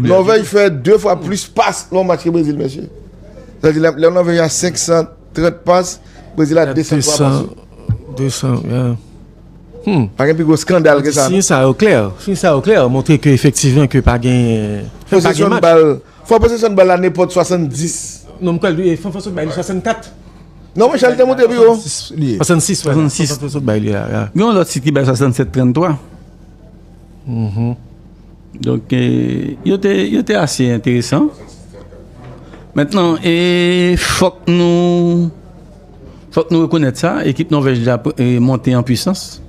Nòvèj fè 2 fwa plis pas nan yon match ke Brezil mesye. Sa vle di lè Nòvèj a 530 pas, Brezil a 203 pas. 200, yeah. Hmm. Pa gen pi gwo skandal ke sa. Siy sa yo klè. Siy sa yo klè montre ke efektivman ke pa gen pa gen match. Fò posesyon bal, fò posesyon bal la nenpòt 70. Non m kwè li fò posesyon bal 64. Non men chal te monte pi wo. 66, 66. Fò posesyon bal li a. Gen yon lòt sit ki bay 67, 33. Mh. Donk, yo te, yo te ase enteresan. Mentnan, e fòk nou, fòk nou rekonèt sa, ekip Nòvèj la monte an pwisans.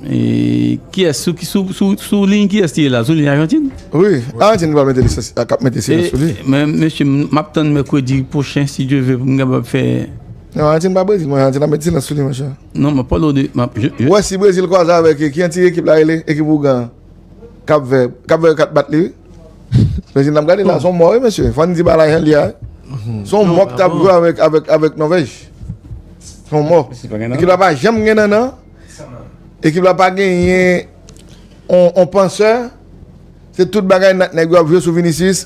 E kiyès, sou ki, sou, sou, sou liy kiyès li ye la? Sou liy Ajantin? Wi, Ajantin ki pral mete lisans, kap mete silans sou li. Men, mesye, map tann mèkredi pwochen, si Dye ve, pou m kapab fè. Non Argentine pa Brésil man Argentine ap met silans sou li monchè. Non map pale w de map je je. Wè si Brésil kwaze avèk ki yon ti ekip la rele ekip ougan an Cap Vert Cap Vert ka t bat li wi Brésil nap gade la son mò wi mesye fò n di bagay jan l ye a wi son mò k tap jwe avèk avèk avèk Norvège son mò ekip la pa janm gen nannan ekip la pa genyen on on pansè se tout bagay nèg yo ap jwe sou Vinicius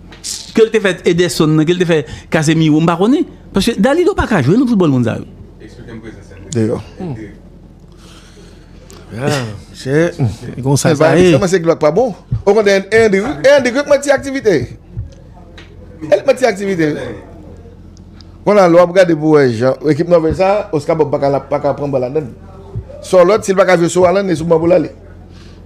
Ke l te fè Ederson nan, ke l te fè Casemiro, m pa konnen. Paske Dalido pa ka jwe nan foutbòl moun sa yo. Eksplike m prezans Endrick. Deyò. Endrick. Chè, e konsa sa ye. Kòman se Glock pa bon? Ou konn Endrick? Endrick yo k manti aktivite. E l k manti aktivite. Bon la, lè w ap gade pou wè jan ekip Nòvèj sa, Oscar Bob pa ka pran bal anndan li. Sòlòt, si l pa ka jwe sou Haaland, e sou ban pou l ale.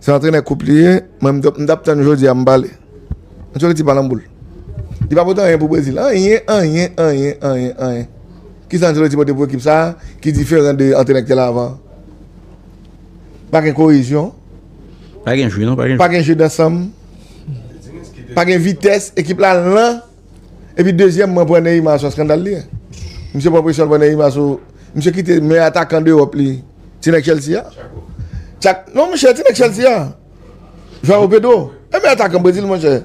Se antrenè koup li ye. Mwen m tap tann jodi a m pale. Ancelotti pa nan boul. Li pa pote anyen pou Brezil. Anyen, anyen, anyen, anyen, anyen. Kisa Ancelotti pote pou ekip sa a ki diferan de antrenè ki te la avan an? Pa gen koyezyon. Pa gen jeu non, pa gen jeu. Pa gen jeu dansanm. Pa gen vitès. Ekip la lan. Epi dezyèmman pran Neymar son skandal li ye. Misye pran presyon devan Neymar sou misye kite meyè atakan dewòp li ti nèg Chelsea a. Tchak. Non monchè ti nèg Chelsea a. Joao Pedro. E meyè atakan Brezil monchè.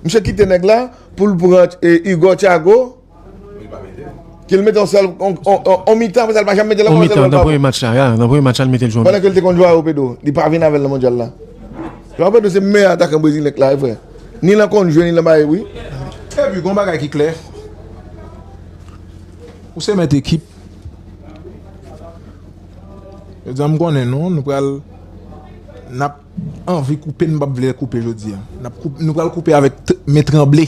Misye kite nèg la pou l pran Hugo Thiago. Li pa mete l. Ke l mete yon sèl yon mitan apre sa li pa janm mete l ankò. Yon mitan nan premye match la. Nan premye match la li mete l jwe yon mitan. Pandan ke l te kont Joao Pedro. Li pa vin avè l nan mondyal la. Joao Pedro se meyè atakan Brezil nèg la e vre. Ni lan konn jwe ni lan bay bri. Epi gon bagay ki klè, ou se mèt ekip. Jodi a m konnen nou, nou pral nap anvi koupe nou pap vle koupe jodi a. Nou pral koupe avèk men tranble.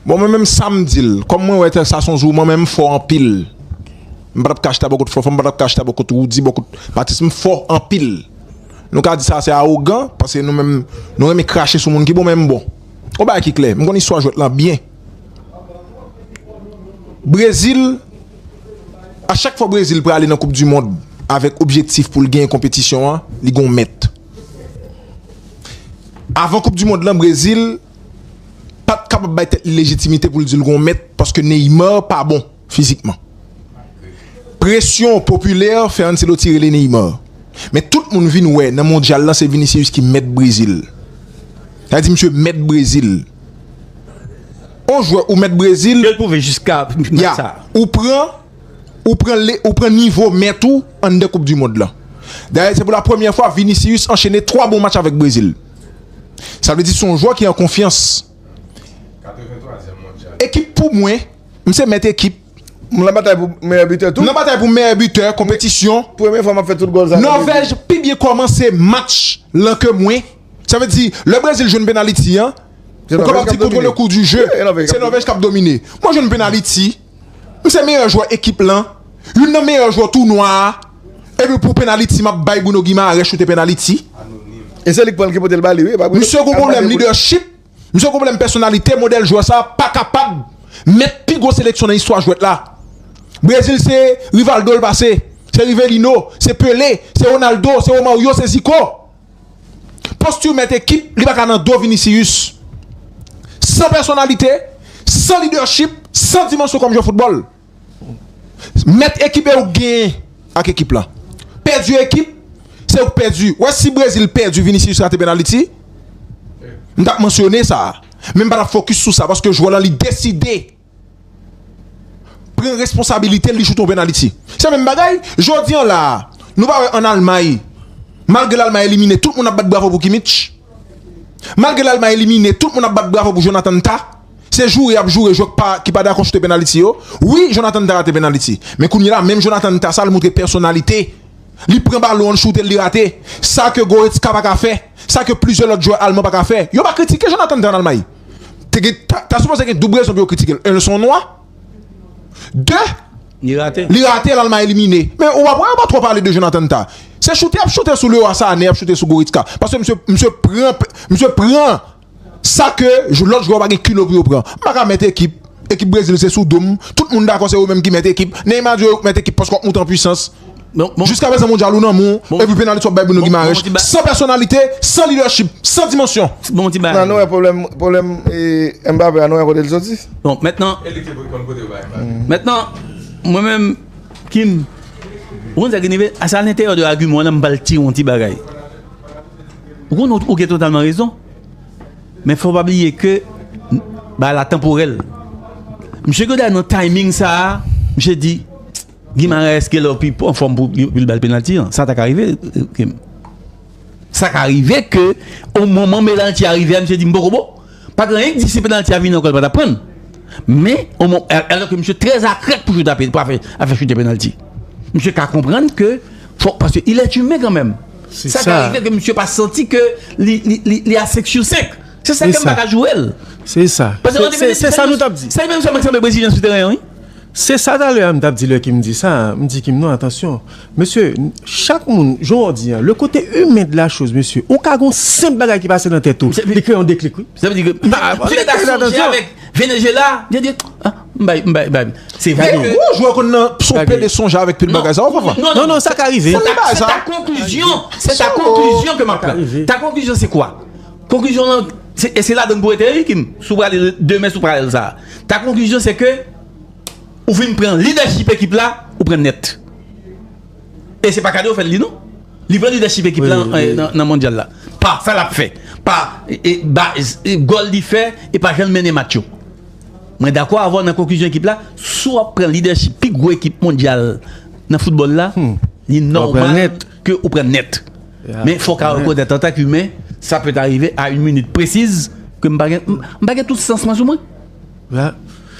Bon mwen menm sam dil kòm mwen wè sa son jouman men m fò anpil m patap ka chita bò kot Fanfan m patap ka chita bò kot Roody bò kot Patrice m fò anpil nou ka di sa se awogan paske nou menm nou renmen krache sou moun ki bon men m bon yon bagay ki klè m konn istwa jwèt lan byen Brezil a chak fwa Brezil prale nan koup di mond avèk objektif pou l genyen konpetisyon an li gon mèt avan koup di mond lan Brezil. pat kapab bay tèt li lejitimite pou l di l gon mèt paske Neymar pa bon fizikman. Presyon popilè fè Ancelotti rele Neymar. Men tout moun vin wè nan mondyal lan se Vinicius ki mèt Brezil. Sa vle di misye mèt Brezil. On jwè ou mèt Brezil, ya, ou pran ou pran le ou pran nivo mèt ou anndan koupdimond lan. Dayè se pou lapremyè fwa Vinicius anchene 3 bon match avèk Brezil. Sa vle di son jwè ki an konfyans. Ekip pou mwen, m se mèt ekip. M nan batay pou meyè bitè tou. M nan batay pou meyè bitè konpetisyon. Premye fwa m ap fè tout gòl sa nan Brezil. Nòvèj pi byen kòmanse match lan ke mwen. Sa vle di lè Brezil jwenn penaliti an, ou kapab di kontwole kou di je, se Nòvèj k ap domine. Mwen jwenn penaliti. Ou se meyè jwè ekip lan, youn nan meyè jwè tounwa a, epi pou penaliti map bay Bruno Guimaraes choute penaliti. E se li k pranl ki potel bali wi. Misye gon pwoblèm lidèchip, misye gon pwoblèm pèsonalite, modèl jwè sa pa kapab mèt pi gwo seleksyon nan istwa jwèt la. Brezil se Rivaldo l pase, se Rivelino, se Pelé, se Ronaldo, se Romario, se Zico. Posture mèt ekip li paka nan do Vinicius. San pèsonalite, san leadership, san dimansyon kòm jwè foutbòl. Mèt ekip e ou k genyen ak ekip la. Pèdi ekip, se ou k pèdi. Ou wè si Brésil pèdi Vinicius rate penaliti, m tap mansyone sa. Men m pa tap focus sou sa paske jwè lan li deside. pran responsabilite l li chouto vin Ayiti. Se menm bagay, jodi an la a, nou pa wè ann Almay, malgre l Almay elimine, tout moun ap bat bravo pou Kimmich. Malgre l Almay elimine, tout moun ap bat bravo pou Jonathan Tah. Se joure y ap joure jwè k pa ki pa dakò choute penaliti yo. Wi, Jonathan Tah rate penaliti. Men kounye la, menm Jonathan Tah sa l montre pèsonalite. Li pran balon an l choute l li rate. Sa ke Goretzka pa ka fè. Sa ke plizyè lòt jwè alman pa ka fè. Yo pa kritike Jonathan Tah ann Almay. te gen ta sipoze gen doub rezon pou yo kritike l 1 l son nwa 2 li rate l alma elimine men ou pa wè yo pa twò pale de Jonathan Tah se choute y ap choute sou Leroy Sané y ap choute sou Goretzka paske msye msye pran msye pran sa ke lòt jwè yo pa gen kilo pou yo pran m pa ka mèt ekip ekip Brezil se sou do m tout moun dakò se yo menm ki mèt ekip Neymar di yo yo k mèt ekip paske w ap moute an pwisans Jiska prezan mondyal ou nan men w epi penalis wap bay Bruno Guimaraes san pèsonalite, san lidèchip, san dimansyon. Nan nou wè pwoblèm Mbappé a nou wè kote li soti. Bon mètnan mètnan mwen menm Kim ou konn sa ki rive se alentèyè de agiman w la m pral tire yon ti bagay. Ou konn ou gen totalman rezon men fò w pa bliye ke bagay la tanporèl. Misye Godard nan timing sa misye di. Guimaraes gen lè pi anfòm pou l ba l penalti an. Sa ta ka rive Kim. Sa ka rive ke o moman penalti a rive a misye di m poko bon. Pa gen anyen ki di si penalti a vini ankò l pa t ap pran l. Men o mo, alò ke misye trè akrèk pou chita pou a fè chute penalti. Misye ka konprann ke fò paske il est humain kanmenm. Sa ka rive ke misye pa santi ke li a 5 sur 5. Se sa Kim pa ka joure l. Se sa. Se sa nou t ap di. Se menm sa m ap di brezilyen sou teren an wi. Se sa talè a m tap di lè Kim di sa, m di Kim non atansyon mesye chak moun jan w di an le kote imen de la choz mesye ou ka gon senp bagay ki pase nan tèt ou li kreye yon deklik wi. Sa vle di ke Mesye ta sonje avèk Venezuela li di m bay m bay bay se vre ke Yon jwè konn nan son pede sonje avèk tout bagay sa ou konprann? Non non sa ka rive. Se ta konklizyon se ta konklizyon ke map pran ta konklizyon se kwa Konklizyon lan, e se ladann pou rete wi Kim, si w prale demen si w prale sa a. Ta konklizyon se ke ou fin pran lidèchip ekip la, ou pran nèt. E se pa kado yo fè l li non. Li pran lidèchip ekip la nan mondyal la. Pa sa l ap fè, pa gòl li fè e pa jan l mennen match yo. Mwen dakò avè w nan konklizyon ekip la, si w ap pran lidèchip pi gwo ekip mondyal nan foutbòl la, li nòmal. ke ou pran nèt. Men fòk a rekonèt an tan k imen, sa pèt arive a yn minit presiz ke m pa gen, m pa gen tout sans mwen sou mwen.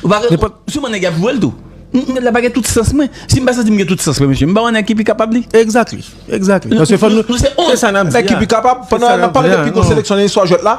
Ou pa gen, souvan nèg y ap jwe l tou. Nèg la pa gen tout sans mwen. Si m pa santi m gen tout sans mwen mesye, m ba yon nèg ki pi kapab li. Exactly, exactly. Paske fò nou, se sa n ap di a. Nèg ki pi kapab, pandan n ap pale de pi gwo seleksyon nan istwa jwèt la.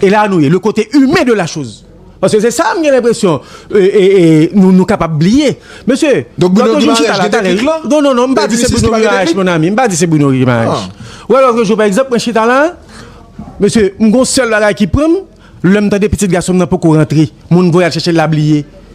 E la nou ye, le kote imen de la choz. Paske se sa m gen lenpresyon nou kapab bliye. Mesye, Donk Bruno Guimaraes gen deklik lan? Non, non, non, m pa di se Bruno Guimaraes mon ami, m pa di se Bruno Guimaraes. Ou wè lòtre jou pa egzanp mwen chita la, mesye, m gon sèl bagay ki pran m, lè m tande pitit gason m nan poko rantre, moun voye al chèche l la bliye.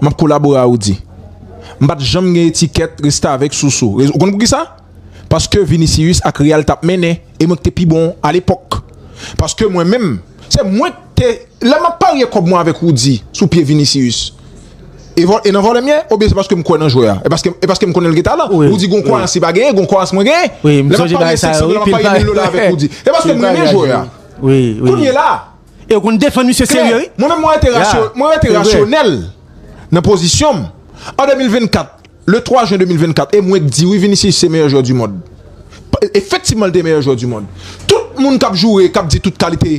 M ap kolabore a Rudy. M pa t janm gen etikèt restavèk sou sou. Ou konn poukisa? Paske Vinicius ak Real t ap mennen e mwen k te pi bon alepòk. Paske mwen menm, se mwen k te Lè m ap parye kòb mwen avèk Rudy sou pye Vinicius, e nan vòlè m ye oubyen se paske m kwè nan jwè a? E paske m konnen l gen talan? Rudy gen yon kwayans li pa genyen, gen yon kwayans mwen genyen. Lè m ap parye 500 dola, m ap parye 1000 dola avèk Rudy. Se paske m renmen jwè a. Kounye la! E yo konn defann misye serye wi. Klè, mwen menm mwen rete rasyonèl. Mwen rete rasyonèl nan pozisyon m. An 2024, le 3 jen 2024 e mwen k di wi Vinicius se meyè jwè du mond. Efektivman l te meyè jwè du mond. Tout moun k ap joure, k ap di tout kalite,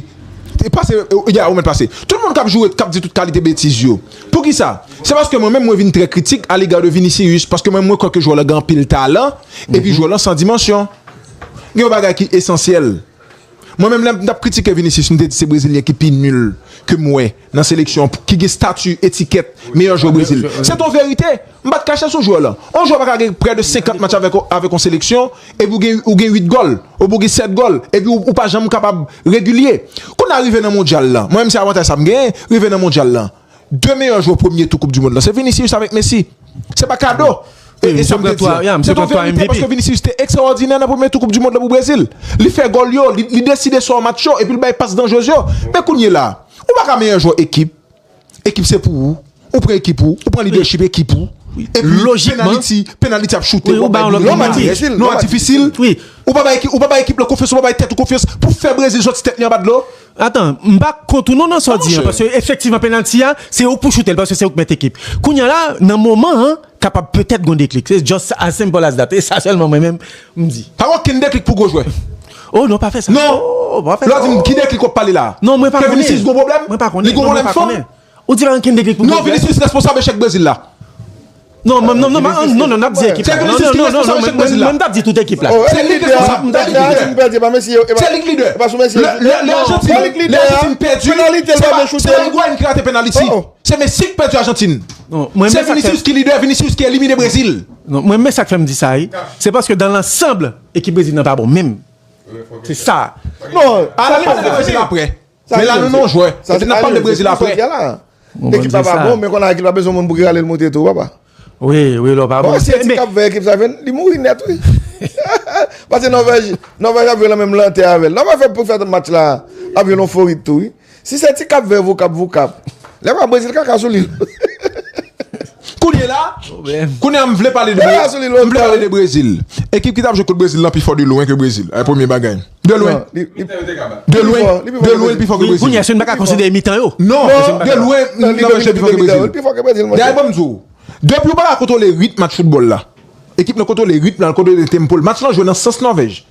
pase, ya ou mèt pase. Tout moun k ap joure, k ap di tout kalite betiz yo. Poukisa? Se paske mwen menm mwen vin trè kritik a lega de Vinicius paske mwen menm mwen kwè ke jwè lan gen anpil talan epi jwè lan san dimansyon. Gen yon bagay ki esansyèl. Mwen menm lè m tap kritike Vinicius m te di se brezilyen ki pi nul ke m wè nan seleksyon an ki gen stati etikèt meyè jwè Brezil. Se t on verite, m pat kache sou jwè lan. On jwè pa ka gen prè de 50 match avèk avèk on seleksyon epi ou gen ou gen 8 gòl oubyen ou gen 7 gòl epi ou pa janm kapab regilye. Kounye a rive nan mondyal lan, mwen menm se avantaj sa m genyen, rive nan mondyal lan. 2 meyè jwè premye tou koup di mond lan se Vinicius avèk Messi. Se pa kado. E sa mwen te di a. Se ton verite paske Vinicius te ekstraòdinè nan premye tou koup di mond lan pou Brezil. Li fè gòl yo, li deside sò match yo epi li bay pas danjrez yo. Men kounye la, ou pa ka meyè jwè ekip. Ekip se pou ou. Ou pran ekip ou. Ou pran lidèchip ekip ou. Epi penaliti, penaliti ap choute. Ou bay lòt penaliti. Non a difisil. Ou pa bay ekip la konfyans, ou pa bay tèt ou konfyans pou fè Brezil sòti tèt li anba dlo. Atan, m pa kont ou non nan sa w di an paske efektivman penalty a se ou k pou choute l paske se ou k mèt ekip. Kounye a la nan moman an kapab petèt gon deklik. Se just as simple as that. E sa sèlman mwen menm m di. Pa gen okenn deklik pou gwo jwè. Oh non pa fè sa. Non! Lè w di m ki deklik w ap pale la a? Non mwen pa konnen. Ke Vinicius gon pwoblèm? Mwen pa konnen. Li gon pwoblèm fòm? Ou di Rankin te klik pou Pogba? Non Vinicius responsab echèk Brezil la. Non non non non nap di ekip la. Non non non non non mwen pap di tout ekip la. Se li ki responsab mwen pap di tout ekip la. Se li ki lidè. Le Argentine pèdi se pa Higuain ki rate penaliti. Se Messi ki pèdi Argentine. Se Vinicius ki lidè, Vinicius ki elimine Brezil. Non mwen men sak fèm di sa wi. Se paske dan lansanb ekip Brezil nan pa bon menm. Se sa. Non. Analize Brezil aprè. Men la nou non jwè. Sa di Alien se pou sòt ya la. Ekip la pa bon men kon Alien pa bezwen moun pou ki ralel moute tou papa. Wi wi lò pa bon. Bon si e ti kap vè ekip sa vin li mouri nèt wi. Pase Nòvèj Nòvèj ap jwe lan menm lantè avèl. Nòvèj fè pou fè tout match la ap jwe lon forit tou wi. Si se ti kap vè vokap vokap. Lè pa Brezil kaka sou li. Kounye la kounye a m vle pale de Brezil. Ekip ki tap jwe kont Brezil lan pi fò de lwen ke Brezil. Premye bagay. De lwen. Mitan yo te ka bat. De lwen. De lwen li pi fò ke Brezil. Kounye a si nou pa ka konsidere mitan yo. Non. De lwen nan nivo jeu li pi fò ke Brezil. Li pi fò ke Brezil monchè. Gade banm di w. Depi ou pa ka kontwole ritm match foutbòl la. Ekip nan kontwole ritm lan, l kontwole tempo l. Match lan jwe nan sans Nòvèj.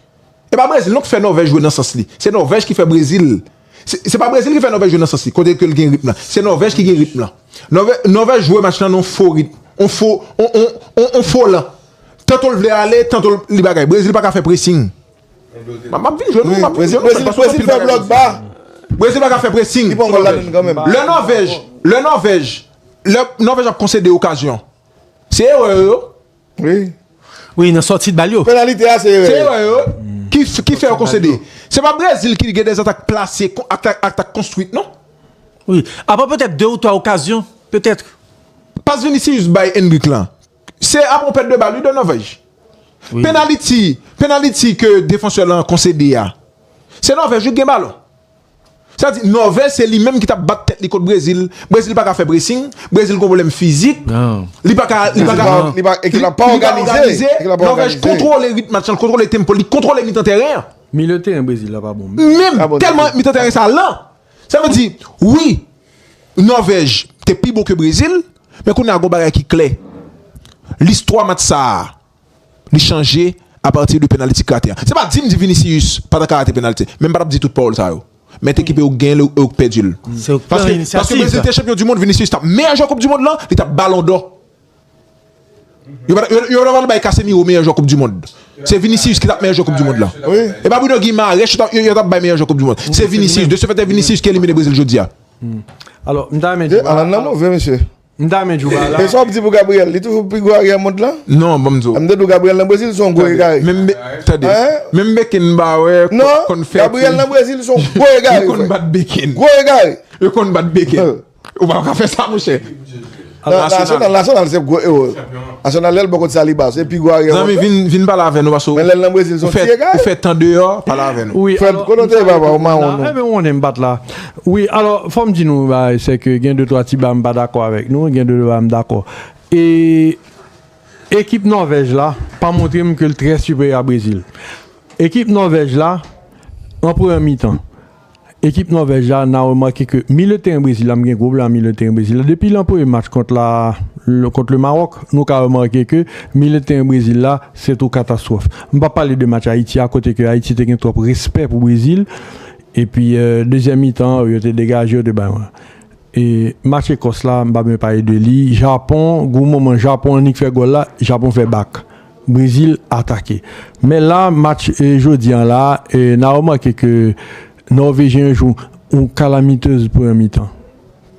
E pa Brezil non ki fè Nòvèj jwe nan sans li. Se Nòvèj ki fè Brezil. Se pa Brezil ki fè Nòvèj jwe nan sans li. Kote ke l gen ritm lan. Se Nòvèj ki gen ritm lan. Nòvè, Nòvèj jwe match lan nan yon fo ritm. Yon fo, yon, yon, yon fo lan. Tanto l vle ale, tanto l, li bagay. Brezil pa ka fè pressing. Map map vin jwenn ou map vin jwenn ou Brezil paske Brezil fè blòk ba Brezil pa ka fè pressing Li pa ankò la menm kanmenm Lè Nòvèj Lè Nòvèj Lè Nòvèj ap konsede okazyon Se erè yo Wi Wi nan sòti bal yo Penalite a se erè yo Se erè yo ki ki fè yo konsede Se pa Brezil ki gen dè atak plase atak atak konstwit non Wi Apa petèt 2 ou 3 okazyon petèt Pas Vinicius bay Endrick lan. Se ap yon pèt de bal wi Donovaj. Penaliti, penaliti ke defansè lan konsede a, se Nòvèj wi ki gen balon. Sa di Nòvèj se li menm ki tap bat tèt li kont Brezil, Brezil paka fè presing, Brezil gon pwoblèm fizik, li paka, li paka, ekip la pa òganize, Nòvèj kontwole rit match lan, li kontwole tempo l, li kontwole mitan tèren an. Milye tèren Brezil la pa bon menm. Menm, tèlman mitan tèren sa lan, Sa vle di, wi, Nòvèj te pi bon ke Brezil, men kounye a gon bagay ki klè. Listwa match sa a, li chanje apati de penaliti ki rate a. Se pa di m di Vinicius pa ta ka rate penalti, men m pa t ap di tout pawòl sa yo. Men t ekipe yo gen l yo k pèdi l. Paske Brezil te chanpyon dimond, Vinicius t ap meyè jwè koupdimond lan, li t ap balondò. Yo pa yo pa bay Casemiro meyè jwè koup du mond. Se Vinicius ki tap meyè jwè koup du mond la. E pa Bruno Guimaraes yo tap bay meyè jwè koup du mond. Se Vinicius, de se fèt se Vinicius ki elimine Brezil jodia. Alò, m ta renmen di. Alan nan move mesye. M ta renmen di ou ba la. E sa w ap di pou Gabriel? Li toujou pi gwo aryè mond la? Non, ban m di w. M te di w Gabriel nan Brezil son gwo egare. Menm be, tande. Menm Beken m ba wè konn fè ti. Gabriel nan Brezil son gwo egare. Yo konn bat Beken. Gwo egare. Yo konn bat Beken. Ou pa ka fè sa monchè. Nasyonal Nasyonal se gwo ewo. Nasyonal lèl bon kont saliba se pi gwo aryè wòl. Zanmi vin vin pale avè nou paske Men lèl nan Brezil son ti egare. Ou fè tan deyò pale avè nou. Wi Frèm kote w te ye papa ou mawon nou. Enben wonnenm pat la. Wi alò fòm di nou yon bagay se ke gen de twa ti bagay m pa dakò avèk nou gen de bagay m dakò. E ekip Nòvèj la pa montre m ke l trè siperyè a Brezil. Ekip Nòvèj la an premyè mitan. Ekip Nòvèj la na remake ke milye teren Brezil la, m gen gwo blan milye teren Brezil la, depi lan premye match kont la kont le Maròk, nou ka remake ke milye teren Brezil la se tou katastwòf. M pa pale de match Ayiti a kote ke Ayiti te gen twòp respè pou Brezil epi dezyèm mitan an yo te degaje yo te bay yon e match Ekòs la m pa bezwen pale de li Japon gwo moman Japon annik fè gòl la Japon fè bak Brezil atake. Men la match jodi an la na remake ke Nòvejyen yo jwe yon kalamitez premyè mitan.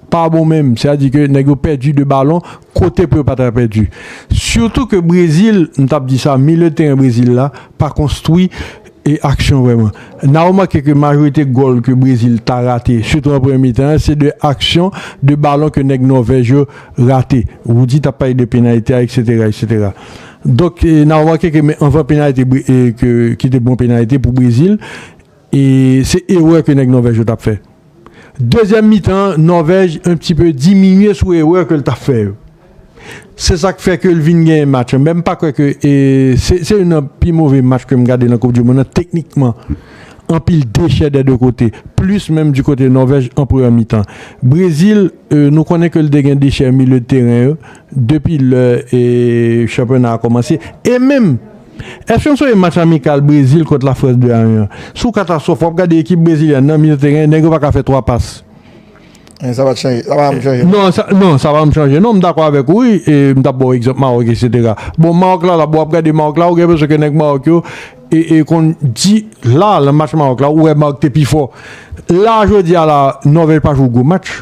Pa bon menm. Se a di ke nèg yo pèdi 2 balon kote pou yo pa ta pèdi. Sitou ke Brezil, m tap di sa, milye teren Brezil la pa konstwi. E aksyon vrèman. Na remake ke majorite gòl ke Brezil ta rate, sitou an premye mitan an, se 2 aksyon, 2 balon ke nèg Nòvèj yo rate. Rudy tap pale de penalite a eksetera eksetera. Donk na remake ke men anvan penalite ki te bon penalite pou Brezil, se erè ke nèg Nòvèj yo tap fè. Dezyèm mitan an, Nòvèj un pti peu diminye sou erè ke l ta fè yo. Se sa k fè ke l vin genyen match lan. Men m pa kwè ke e se se youn nan pi move match ke m gade nan koup di monn nan teknikman. Anpil dechè dè 2 kote. Plis menm di kote Nòvèj an premyè mitan. Brezil e nou konnen ke l te gen dechè milieu de terrain yo depi lè e chanpyona a kòmanse. E menm. Èske n sonje match amikal Brezil kont Lafrans 2 a 1 an? Sou katastwòf, w ap gade ekip brezilyèn nan mil teren, nèg yo pa ka fè 3 pas. Men sa pa chanje, sa pa janm chanje non. Non, sa pa janm chanje non, m dakò avèk ou wi, m t ap ba w egzanp Mawòk eksetera. Bon, Mawòk la la, bon w ap gade Mawòk la, ou gen enpresyon ke nèg Mawòk yo konn di, la, nan match Mawòk la, ou wè Mawòk te pi fò. La, jodi a la, Nòvèj pa jwe gwo match.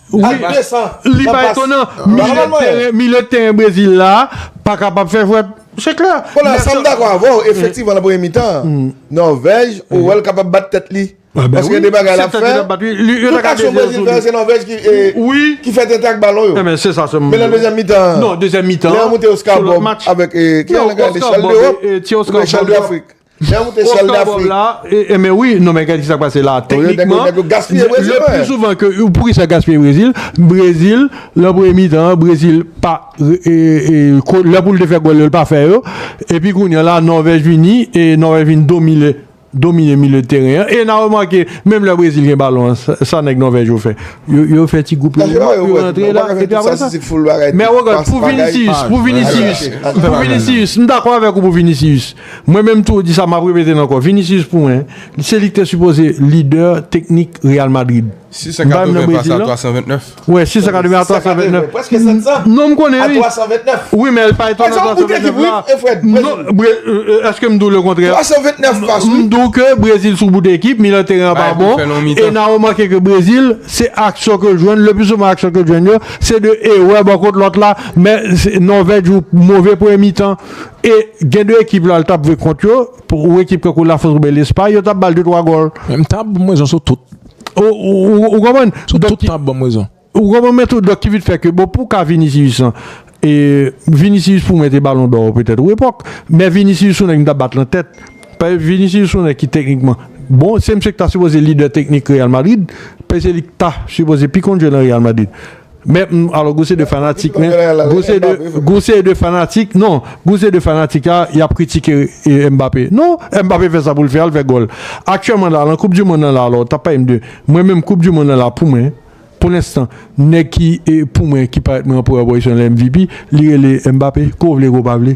Li pa etonan, milye teren Brezil la pa kapab fè jwèt, se klè. Konla, sa m dakò avè w, efektivman nan premye mitan an, Nòvèj, ou wè l kapab bat tèt li. Paske gen de bagay l ap fè, tout aksyon Brezil fè se Nòvèj ki fè tenten ak balon yo. Men nan dezyèm mitan an, lè yo moute Oscar Bob avèk, ki yon nèg la rele Chal Dewòp, Chal Dewòp. Oscar Bob la e men wi non men gad kisa k pase la teknikman le plus souvent ke poukisa gaspiye Brezil Brezil lan premye mitan an Brezil pa lè pou l te fè gòl yo l pa fè yo epi kounya la Nòvèj vini e Nòvèj vin domine domine milye de teren an e na remake menm lè Brezil gen balon an sa nèg Nòvèj yo fè yo fè ti gwoup yo yo rantre la epi aprè sa men wogòt pou Vinicius pou Vinicius pou Vinicius m dakò avèk ou pou Vinicius Mwen menm tou di sa map repete l ankò Vinicius pou mwen se li ki te sipoze lidè teknik Real Madrid. M pa menm nan Brezil non. 680 pas a 329. Prèske 700. Non m konnen wi. A 329. Wi men l pa etonnan 329 la. Ou fèt Brezil. Non eske m di w le kontrè. 329 pas wi. M di w ke Brezil sou bout ekip, milan teren an pa bon. E na remake ke Brezil se aksyon ke l jwenn le pli souvan aksyon ke l jwenn yo se de erè bò kot lòt la men Nòvèj jwe move premye mitan. E gen 2 ekip la l tap jwe kont yo pou ou ekip kankou La France oubyen Lespay yo tap bal 2 3 gòl. Men m ta banm rezon sou tout. Ou konprann? Sou tout m tap banm rezon. Ou konprann men tou donk ki vin fè ke bon pou ka Vinicius lan e Vinicius pou mwen te balon dò petèt ou epòk men Vinicius son nèg m tap bat lan tèt paske Vinicius son nèg ki teknikman bon se misye ki ta sipoze lidè teknik Real Madrid paske se li ki ta sipoze pi konn jwe lan Real Madrid. Mè m alò gou se de fanatik men gou se de gou se de fanatik non gou se de fanatik a y ap kritike Mbappé non Mbappé fè sa pou l fè al fè gòl aktyèlman la lan koup di monn nan la alò tap pale m de mwen menm koup di monn nan la pou mwen pou lenstan nèg ki pou mwen ki parèt mwen an premyè pozisyon lè MVP li rele Mbappé ke w vle ke w pa vle.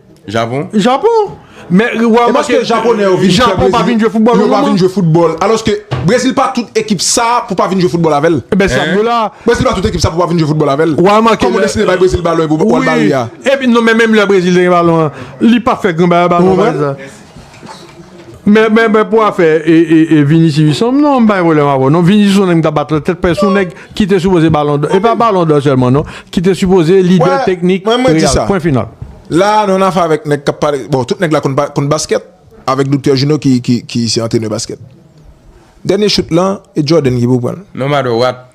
Japon? Japon! Men ou remake Japon pa vin jwe foutbòl yon moman. Yo pa vin jwe foutbòl. Alòske Brezil pa tout ekip sa pou pa vin jwe foutbòl avè l. Enben se sa m di w la. Brezil pa tout ekip sa pou pa vin jwe foutbòl avè l. Ou remake lè. Kòman w deside bay Brezil balon epi w pa al ba li a? Wi. Epi non men menm lè Brezil te gen balon an, li pa fè gran bagay ak balon an. Ou konprann? Men men men pou afè e e e Vinicius son m non m pa gen pwoblèm avè w non Vinicius son nèg m ta bat lantèt paske son nèg ki te sipoze balon dò e pa balon dò sèlman non ki te sipoze lidè teknik Mwen mwen di sa pwen final. La a nou nan afè avèk nèg k ap pale bon tout nèg la konn konn baskèt avèk doktè Juno ki ki ki se antrenè baskèt dènye chout lan e Jordan ki pou pran l. No matter what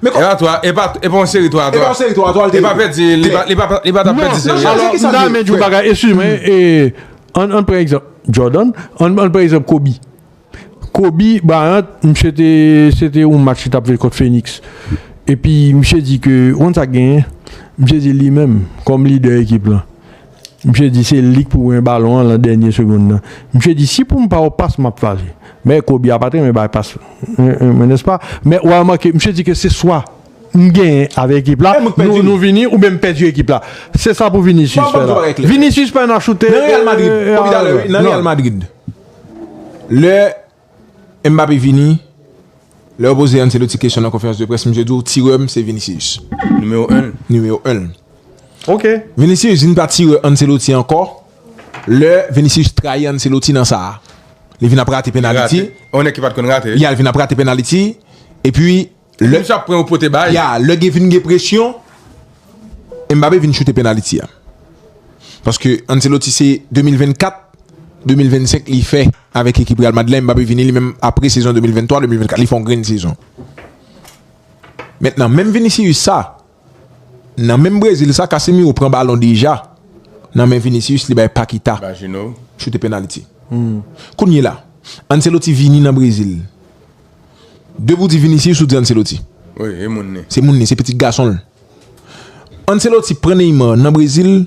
Men kòman. Epa 3, epa epa yon seri 3 a 3. Epa yon seri 3 a 3 li te ye. Epa pèdi, li pa li pa li pa tap pèdi seri a. Alò m'ta renmen di yon bagay, eskize mwen, ann ann pran egzanp Jordan, ann ann pran egzanp Kobe. Kobe Bryant misye te se te yon match li tap jwe kont Phoenix epi misye di ke ou konn sa k genyen? Misye di li menm kòm lidè ekip lan. Misye di se li k pou gen balon an lan dènye segond lan. Misye di si pou m pa yon pas m ap fache. Men Kobe a pa t renmen bay pas mwen nèspa. Men ou remake misye di ke se swa m genyen avèk ekip la, nou vini oubyen m pèdi ekip la. Se sa pou Vinicius fè la. Vinicius pa nan choute. Nan Real Madrid. Nan Real Madrid. Lè. Mbappé vini, lè yo poze Ancelotti kesyon nan konferans de près misye di w tirè m se Vinicius. Nimewo 1 l. Nimewo 1 l. Ok. Vinicius vin pa tirè Ancelotti ankò lè Vinicius trayi Ancelotti nan sa a. Li vin ap rate penaliti. Rate. On nèg ki pat konn rate. Li al vin ap rate penaliti epi Lè misye ap pran yo pote bay. Ya, lè gen vin gen presyon, Mbappe vin choute penaliti a. Paske Ancelotti se 2024, 2025 li fè avèk ekip Real Madrid la, Mbappe vini li menm apre sezon 2023, 2024 li fè yon grenn sezon. Mentnan, menm Vinicius sa, nan menm Brezil sa, Casemiro pran balon deja nan men Vinicius li bay Paquita choute penaliti. Kounyela, Ancelotti vini nan Brezil. De pou di Vinicius ou di Ancelotti? Wi e moun li. Se moun li, se pitit gason l. Ancelotti pran Neymar nan Brezil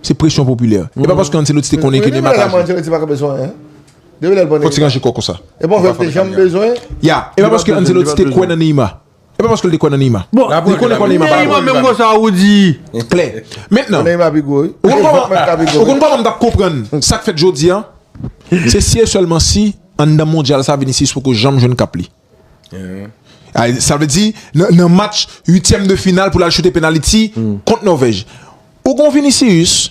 se presyon popilè. E pa paske Ancelotti te konnen ke Neymar ka jwe. Depi lè sa Ancelotti pa ka bezwen an. Depi lè l pran Neymar. Fò ti ranje kò konsa. E pa w wè l te janm bezwen. Ya, e pa paske Ancelotti te kwè nan Neymar. E pa paske l te kwè nan Neymar. Bon, li konnen kò Neymar pa bon. Neymar menm gò sa ou di. Klè. Mentnan. Neymar pi gwo wi. Ou konn kòman m t ap konprann sa k fèt jodi a? Se si e sèlman si anndan mondyal sa Vinicius poko janm jwenn kap li. Sa vle di nan match uityèm de final pou l al choute penaliti kont Nòvèj. Ou gen yon Vinicius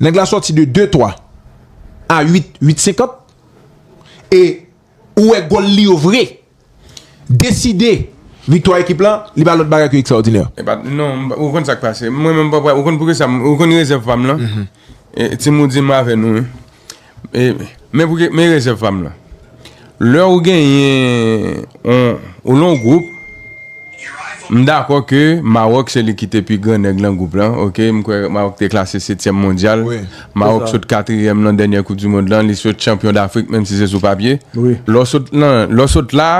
Nèg la sòti de 2 3 a 8 8 50 e ou wè gòl li yo vre deside viktwa ekip la li pa lòt bagay ke ekstraòdinè. Epa non ou konn sak pase mwen menm ou konn poukisa ou konn rezèv pam lan ti moudi m avè nou wi. Men pou ke, men rezèv pa m lan. Lè ou genyen on, ou lan on gwoup, m dakò ke Mawòk se li ki te pi gran nèg lan gwoup lan, ok, m kwè Mawòk te klase setyèm mondyal, Mawòk sot katriyèm lan dènyè koup di mond lan, li sot chanpyon dafrik menm si se sou papye. Lè w sot lan, lè w sot la,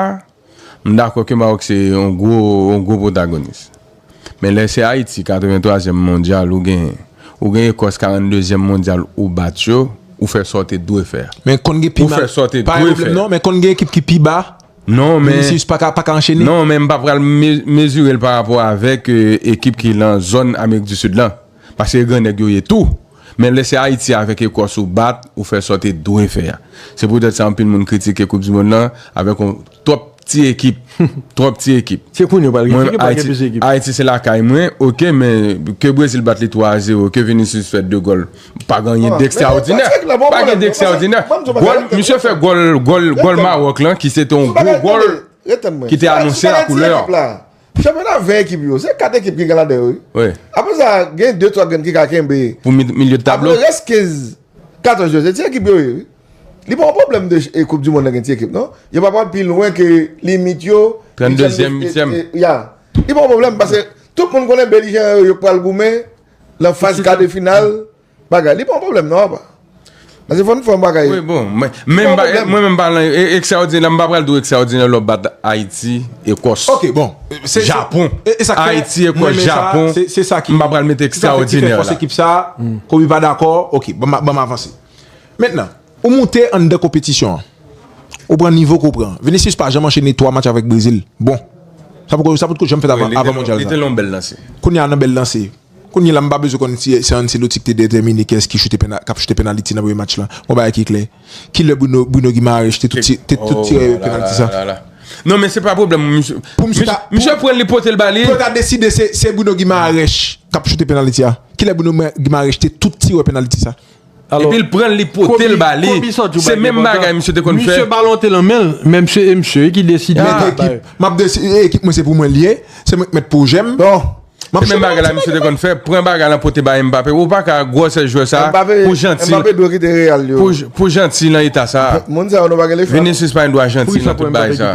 M dakò ke Maroc se yon gwo yon gwo pwotagonis. Men lè se Ayiti 83 zièm mondyal ou genyen, ou gen Ekòs 42 zièm mondyal ou bat yo, ou fè sa w te dwe fè a. Men konn gen pi mal, pa gen pwoblèm non, men konn gen ekip ki pi ba, Vinicius pa ka pa ka anchene. Non men m pa pral mezire l parapò avèk ekip ki lan zòn Amerik di Sid lan. Paske e gran nèg yo ye tou. Men lè se Ayiti avèk Ekòs ou bat, ou fè sa w te dwe fè a. Se poutèt sa anpil moun kritike koup dimond lan avèk yon twòp ti ekip. Twòp ti ekip. Se kounye yo pral gen ti ekip, pral gen plis ekip. Ayiti se lakay mwen, ok men ke Brezil bat li 3 a 0, ke Vinicius fè 2 gòl, pa gen anyen dekstraòdinè. Pa gen dekstraòdinè. Gòl, misye fè gòl, gòl, gòl Mawòk lan ki se te yon gwo gòl ki te anonse la koulè. Chanpyona 20 ekip yo, se 4 ekip ki gen ladan yo wi. Wi. Apre sa, gen 2, 3 grenn ki ka kenbe. Pou milye de tablo. Apre rès 15, 14 yo, se ti ekip yo ye wi. Li pa yon pwoblèm de koup di mond lan gen ti ekip non. Yo pa pral pi lwen ke limit yo. 32 zyèm, 8 zyèm. Ya. Li pa yon pwoblèm pase tout moun konnen belijeran yo yo k pral goumen nan faz kade final. Bagay li pa yon problem non apa. Pase fòn fòn bagay. Wi bon, mwen menm pa lan ekstraodinè, m pa pral di w ekstraodinè lò bat Ayiti, Ekòs, Japon, Ayiti, Ekòs, Japon, m pa pral mete ekstraodinè la. Kobe pa dakò, ok, ban m avanse. Mentnan, ou moute anndan konpetisyon an, ou pran nivo ke w pran. Vinicius pa janm anchene 3 match avèk Brezil, bon, sa potko janm fèt avan mondyal sa. Li te lan yon bèl lanse. Kounya nan bèl lanse. Kounye la m pa bezwen konn si se Ancelotti ki te detèmine kiyès ki choute k ap choute penaliti nan premye match la. Yon bagay ki klè, ki lè Bruno Guimaraes te tout tire penaliti sa? Non men se pa pwoblèm pou misye. Misye pran l li pote l ba li. Pou yo ta deside se Bruno Guimaraes k ap choute penaliti a, ki lè Bruno Guimaraes te tout tire penaliti sa? Epi l pran l li pote l ba li se menm bagay misye te konn fè. Ekip mwen se pou mwen l ye se mwen ki mèt pwojè m. Se menm bagay la misye te konn fè pran bagay la pote bay Mbappé ou paka gwòsè jwè sa pou janti pou janti nan eta sa Vinicius pa gen dwa janti nan tout bagay sa.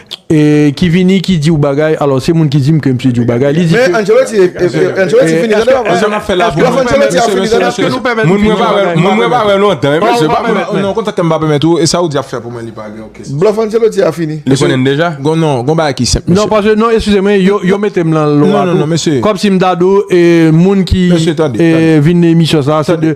ki vini ki di w bagay alò se moun ki di m ke msye di w bagay li di ke Men Ancelotti Ancelotti fini tande w Eske nap fè la pou moun Mesye mesye mesye moun mwen pa wè moun mwen pa wè lontan non mesye pa pèmèt mwen non kontak ke m pa pèmèt ou e sa ou di ap fè pou mwen li pa gen okenn sans Blòf Ancelotti a fini Li konnen m deja Gon non gon bagay ki senp mesye non paske non eskize mwen yo yo mete m lan lwa tou non non non mesye kòmsi m ta di w e moun ki mesye tande tande vin nan emisyon sa se de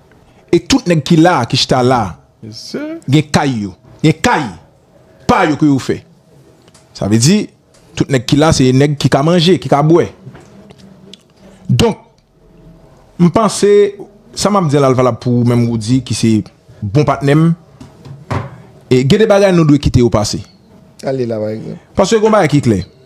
e tout nèg ki la a, ki chita la a, gen kay yo, gen kay pa yo ke yo fè. Sa vle di, tout nèg ki la se nèg ki ka manje, ki ka bwè. Donk, m panse, sa m ap di a la l valab pou ou menm Roody ki se bon patnè m, gen de bagay nou dwe kite yo pase. Paske gen yon bagay ki klè.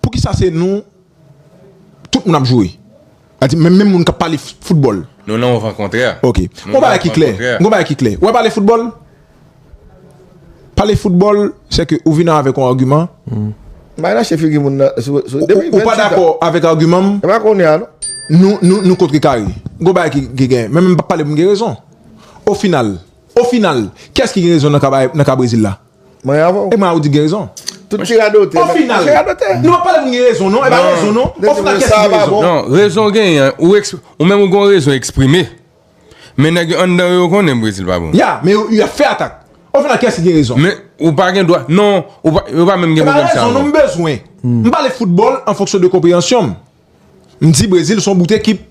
Poukisa se nou tout moun ap jwe? A di menm moun k ap pale foutbòl. Nou nan yon van kontrè. Ok. Yon bagay ki klè. Yon bagay ki klè. Wè pale foutbòl? Pale foutbòl, se ke ou vin avèk yon agiman. Bay rache figi moun nan. Ou pa dakò avèk agiman m. E pa kounye a non. Nou kontre kare. Yon bagay ki gen. Menm m pa pale pou m gen rezon. Ofinal. Ofinal. Kiyès ki gen rezon nan ka Brezil la? Mwen gen avèw. Emma ou di gen rezon. Tout ti radote. O final. Ti radote. Nou ap pale pou nou gen rezon non. E pa rezon non. O final kèk ti rezon. Non rezon gen an. Ou menm ou gen rezon eksprime. Men nèg yo anndan yo konnen Brezil pa bon. Ya men yo ap fè atak. O final kèk ti gen rezon. Men ou pa gen dwa. Non. Yo pa menm gen pwoblèm sa yo. E pa rezon non m bezwen. M pale foutbòl an fonksyon de konpreyansyonm. M di brezil son bout ekip.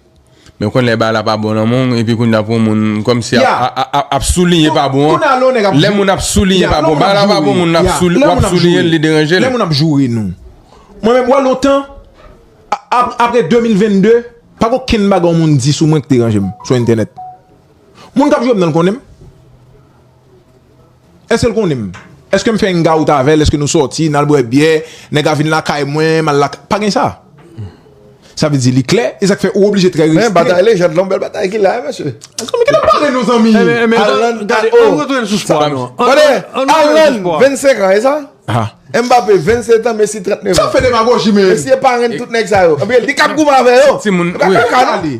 Men konn lè bagay la pa bon nan men w epi kounya pou moun kòmsi ap ap soulinye pa bon an lè moun ap soulinye pa bon bagay la pa bon moun ap sou wap soulinye l li deranje l. Lè moun ap joure nou mwen menm wè lontan apre 2022 pa gen okenn bagay yon moun di sou mwen ki deranje m sou entènèt moun k ap jwe m nan l konnen m. Èske l konnen m? Èske m fè yn gaout avè l? Èske nou sòti, n al bwè byè, nèg la vin lakay mwen, m al lakay Pa gen sa. Sa vle di li klè, e sa k fè ou oblije trè restri. Men batay lejand lan, bèl batay ki la, mesye. Zanmi kite m pale nou zanmi. Alan, gade, ann retounen sou spò a nou. Tande, Alan, 25 an, e sa? Mbappé, 27 an, Messi, 39 an. Sa w fè demagoji men? Messi e parenn tout nèg sa yo. Li k ap goumen avè yo. Ti moun, wi.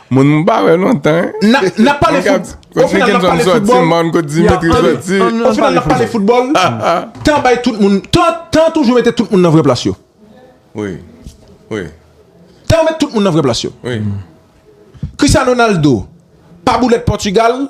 Moun m pa wè lontan. Nap pale foutbòl. O final nap pale foutbòl. O final nap pale foutbòl. Tan bay tout moun. Tan toujou mete tout moun nan vrè plas yo. Wi. Wi. Tan met tout moun nan vrè plas yo. Wi. Christiano Ronaldo pa boulèt Portugal.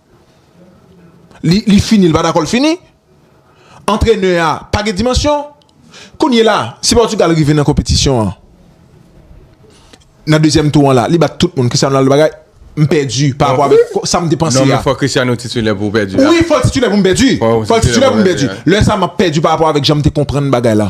Li fini li pa dakò l fini. Antrenè a pa gen dimansyon. Kounye la, si Pòtigal rive nan konpetisyon an, nan dezyèm tou an la, li bat tout moun, Cristiano Ronaldo bagay, m pèdi pa rapò avèk sa m te panse a. Non men fò Cristiano titilè pou w pèdi la. Wi fò l titilè pou m pèdi. Fò l titilè pou m pèdi. Lè sa m ap pèdi pa rapò avèk jan m te konprann bagay la.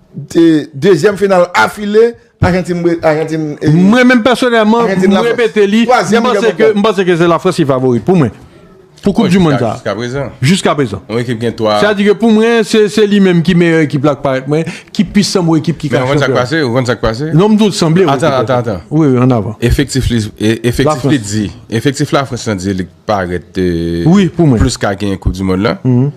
Dezyèm final afile, Ajantin bwe, Ajantin e. Mwen menm pèsonèlman, mwen repete li, mwen panse ke se la Frans ki favori pou mwen. Pou koup di moun sa. Jiska prezan. Jiska prezan. Yon ekip gen 3. Sa di ke pou mwen, se li menm ki meyè ekip la k parèt mwen, ki pi sanble ekip ki ka chanpyon. Men yon konn sa k pase, yon konn sa k pase. Non m di w sanble. Atan, atan, atan. Wi, wi, an avan. Efektif li, efektif li di, efektif la Frans lan di. parèt plis ka genyen koup di mond lan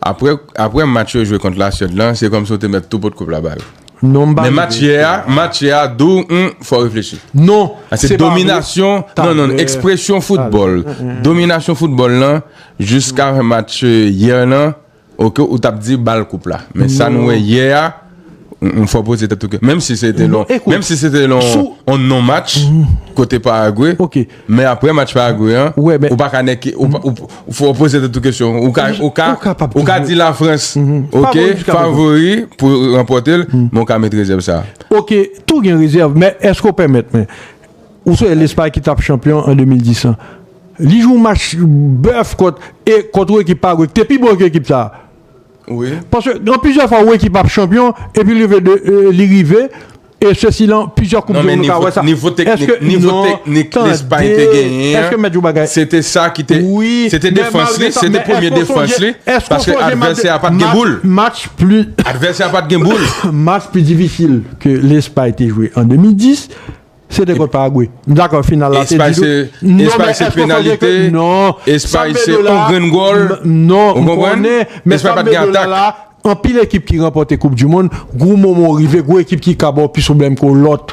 aprè match yo jwe kont la Suède lan se kòm si yo te mèt tou pot koup la bal men match yè a match yè a dou fò reflechi se dominasyon nan nan ekspresyon foutbòl dominasyon foutbòl lan jiska match yè lan Ok ou tap di bal koup la men sa nou wè yè a ou fò poze tèt ou ke menm si se te lon menm si se te lon on non match kote Paraguay men aprè match Paraguay an ou pa ka nèke ou fò poze tèt ou kesyon ou ka ou ka ou ka di la Frans ok favori pou ranpòte l men ou ka met rezèv sa ok tou gen rezèv men eske ou pèmèt mwen ou se Lespay ki tap chanpyon an 2010 lan. Li jwe yon match bèf kont e kont yon ekip Paragwe ki te pi bon ke ekip sa. Wi. Paske gen plizyè fwa yon ekip ap chanpyon epi rive de li rive e se si lan plizyè koup du mond nou ka wè sa. Non men nivo nivo teknik nivo teknik Lespay te genyen an. Tande. Se te sa ki te se te defans li se te premye defans li paske advèsè a pat gen boul. Match pli. Advèsè a pat gen boul. Match pi difisil ke Lespay te jwe an 2010. Se te kont Paragwe. M dakò final la se Espay se Espay se penalite Espay se on grenn gòl ou konprann Espay pat gen atak. Anpil ekip ki ranpòte koup di mond gwo moman w rive gwo ekip ki ka ba w plis pwoblèm ke w lòt.